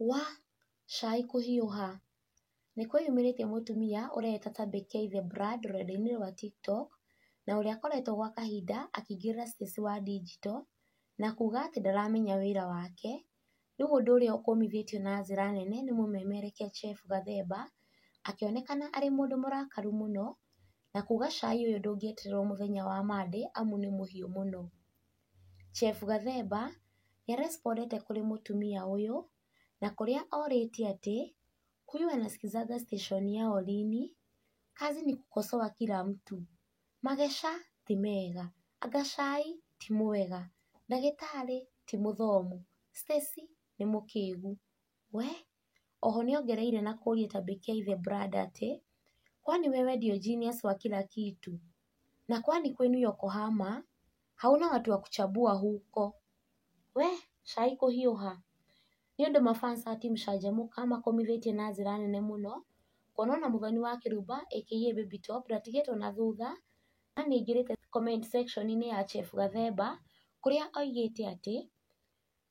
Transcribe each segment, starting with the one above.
Wa! Cai kũhiũha! Nĩ kwĩyumĩrĩtie mũtumia ũreĩta ta Becky the Brand rũrenda-inĩ rwa TikTok, na ũrĩa akoretwo gwa kahinda akĩingĩrĩra space wa ndinjito, na kuuga atĩ ndaramenya wĩra wake. Rĩu ũndũ ũrĩa ũkũmithĩtio na njĩra nene nĩ mũmemerekia Jeff Gathemba, akĩonekana arĩ mũndũ mũrakaru mũno, na kuuga cai ũyũ ndũngĩetererwo mũthenya wa Monday amu nĩ mũhiũ mũno. Chef Gathemba nĩ a respondete kũrĩ mũtumia ũyũ, na kũrĩa orĩtie atĩ, huyu anasikizanga station ya Olini, kazi ni kukosoa kila mtu, magesha ti mega, anga cai ti mwega, ndagĩtarĩ ti mũthomu, Stacy nĩ mũkĩgu. We Oho nĩ ongereire na kũria ta Bekiai the brand atĩ, Kwani wewe ndio genius wa kila kitu? Na kwani kwenu Yokohama hauna watu wa kuchambua huko? We cai kũhiũha. Nĩ ũndũ ma fans a Team Canjamũka makomithĩtie na njĩra nene mũno, kuona ona Mũthoni wa Kĩrumba aka Baby Top ndatigĩtwo na thutha, na nĩ aingĩrĩte comment section -inĩ ya Chef Gathemba, kũrĩa oigĩte atĩ,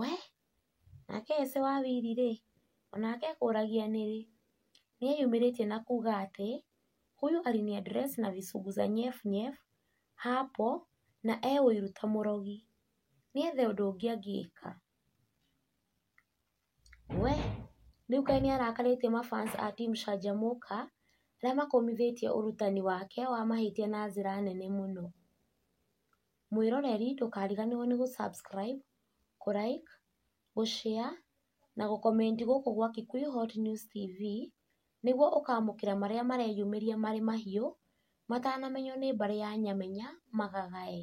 We! Nake Ese wa Wili-rĩ, o nake ekũũragia nĩrĩ? Nĩeyumĩrĩtie na kuuga atĩ, Huyu aliniaddress na visungu za nyef nyef hapo na e ũiru ta mũrogi. Nĩethe ũndũ ũngĩ angĩka. We! Rĩu kaĩ nĩarakarĩtie ma fans a Team Canjamũka, arĩa makũmithĩtie ũrutani wake wa mahĩtia na njĩra nene mũno. Mwĩroreri ndũkariganĩrwo nĩ gũ subscribe, kũ like, gũ share na gũ comment gũkũ gwa Kikuyu Hot News TV nĩguo ũkamũkĩra marĩa mareyumĩria marĩ mahiũ matanamenywo nĩ mbarĩ ya Nyamenya magagae.